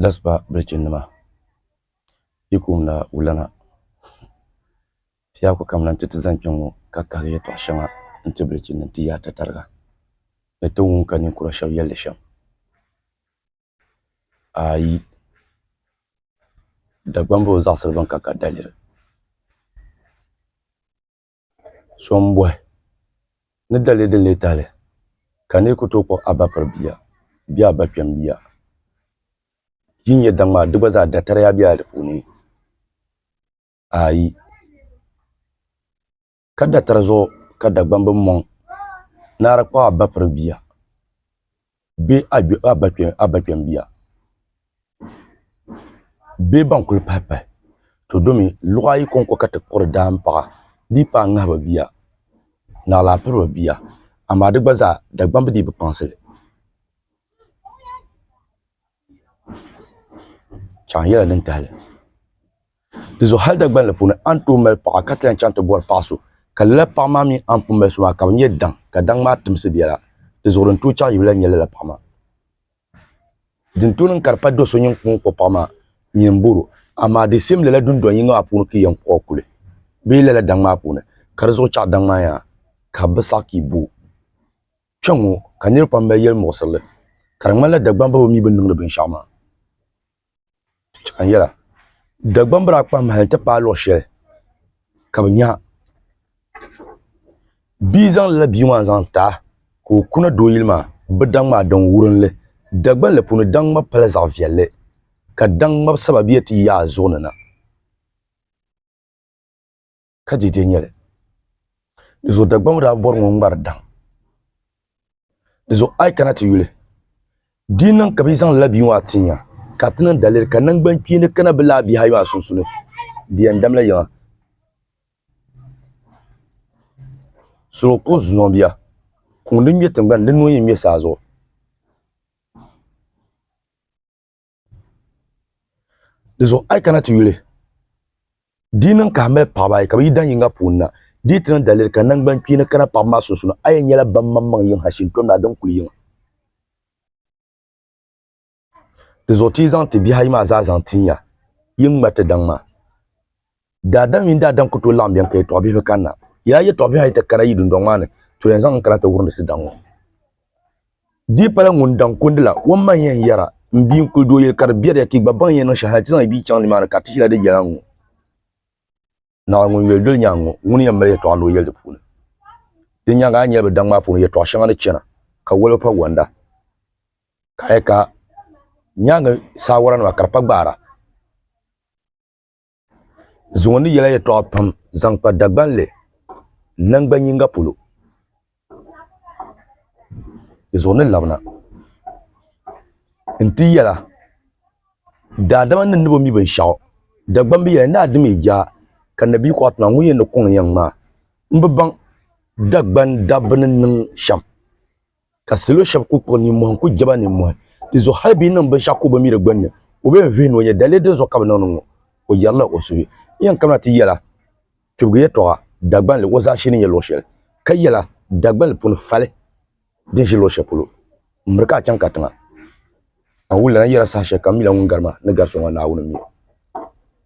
Laspa bilichinnima yi koŋda wulana tɛyaku kam la nti ti zani kpɛŋɔ ka kahi yɛtɔɣ shɛŋa nti bilichinnima nti yaai tatariga ni ti wum ka ninkura shɛb yɛli shɛm ayi Dagbamb o zaɣisiri bɛn ka ka daliri. So m-bɔhi ni dali din lee tahili ka n lee ku tooi kpuɣi a ba piri bia bee a ba kpɛm bia? Yi nya daŋ maa, di gba zaa datariya bela di puuni? Aai! Ka datari zuɣu ka Dagbamb mɔŋ naara kpuɣi a ba piri bia. bee a ba kpɛmbiya bee ban kuli pahi pahi to domi luɣ ayi kɔŋko ka ti kuri daam paɣa di yi paai ŋahiba bia ni alaapiriba bia amaa di gba zaa Dagbamb dii bi kpaŋsi li chaŋ yɛla din tahali dinzuɣu hali dagbanli puuni a ni tooi mali paɣa ka ti lahi chaŋ ti bɔri paɣa so ka lala paɣa maa mini a ni pun mali so maa ka bi nyɛ daŋ ka daŋ maa timsi biɛla dinzuɣu din tooi chaɣi yuli la n nyɛ lala paɣa maa din tooi niŋ ka di pa do so nini ka o kpuɣi paɣa maa nini n bɔrɔ amaa di siim lala dundoŋ yinga maa puuni ka i yɛn kpuɣi o kuli bee lala daŋ maa puuni ka di zuɣu chaɣi daŋ maa yaha ka bi saɣi ka i bo Kpɛŋŋo ka niraba pam mali yɛli muɣisirili, ka di ŋmanila Dagbamba bi mii bi ni niŋdi binshaɣu maa. Ka n yɛla, Dagbamba daa kpahi mahali nti paai luɣ shɛli ka bi nya bia zaŋ lala bia maa n-zaŋ ti a ka o kuna doo yili maa, bɛ daŋ maa daŋ wurinli. Dagbanli puuni daŋ ŋmab pala zaɣ viɛlli, ka daŋ ŋmab sababiya ti yaai zuɣu ni na. ka dede nyɛ li. Di zuɣu Dagbaŋ daa bɔri ŋɔ ŋmari daŋ. Di zuɣu a yi kana ti yuli, di yi niŋ ka bɛ yi zaŋ lala bia ŋɔ a ti nya ka a ti niŋ daliri ka naŋgbankpeeni kana bɛ lala bihi ayi maa sunsuuni, di yɛn damla yiŋa. Solo kuɣu zuŋɔ bia, kuŋ din ŋme tiŋgbani, di nuu yi ŋme saa zuɣu. di zuɣu a yi kana ti yuli di niŋ ka a mali paɣaba ayi ka bi yi daŋ yinga puuni na di ti niŋ daliri ka nangbani kpeeni kana paɣaba maa sunsuuni a yi nyɛla ban maŋmaŋ yiŋ Hashim kpɛm daa din kuli yiŋa di zuɣu ti yi zaŋ ti bihi ayi maa zaa zaŋ tinya yi ŋma ti daŋ maa Daadam mini daadam ku tooi laɣim beni ka yɛtɔɣ bihibihi kanna. Yaa yɛtɔɣ bihi a yi ti kana yi dundɔŋ maa ni, to yɛn zaŋ n kana ti wurindi ti daŋ ŋɔ. Di yi pala ŋun daŋ kundi la, o maŋ ya n-yɛra, M bia, n kul di o yɛli ka di biɛri ya ka yi gba baŋ yi ni niŋ shɛli hal ti zaŋ yi bia chaŋ nimaani ka ti ʒila di yɛla n-ŋɔ. Naawuni ŋun yoli doli nyaŋ ŋɔ, ŋuni yɛn mali yɛtɔɣ ni o yɛli di puuni? Di nyaaŋa a ni nyɛla bɛ daŋ maa puuni yɛtɔɣ shɛŋa ni chana, ka waliba pa wɔnda, ka a yɛli ka nyaaŋa saawaranima ka di pa gbaara. Zuŋɔ ni yɛla yɛtɔɣa pam zaŋ kpa Dagbanli nangban yinga polo. Di zuɣu ni labina nti yɛla, Daadama ni ni bo mi binshɛɣu, Dagban bi yɛli, Naa dimi jaa ka Nabiyi kɔɣa ti maa, ŋun yɛn ni kɔŋ yɛŋ maa, m bi baŋ Dagban dabba ni niŋ shɛm. ka salo shɛba ku kpuɣi ninmɔhi n-ku je ba ninmɔhi di zuɣu hali bɛ yi niŋ binshɛɣu ku o biŋmiri gbunni o bee n-vihi ni o nya daliya din zuɣu ka bɛ niŋdi ŋɔ o yɛrila o suhu yɛn kamina ti yɛla kpibigu yɛtɔɣa Dagbanli o zaashee ni nyɛ luɣ shɛli ka yɛla Dagbanli puni fali din ʒi luɣ shɛli polo m-miri ka a chaŋ katiŋa a wulila na yɛla saha shɛli kam m mi la ŋun gari ma ni gari so maa Naawuni m-mi o.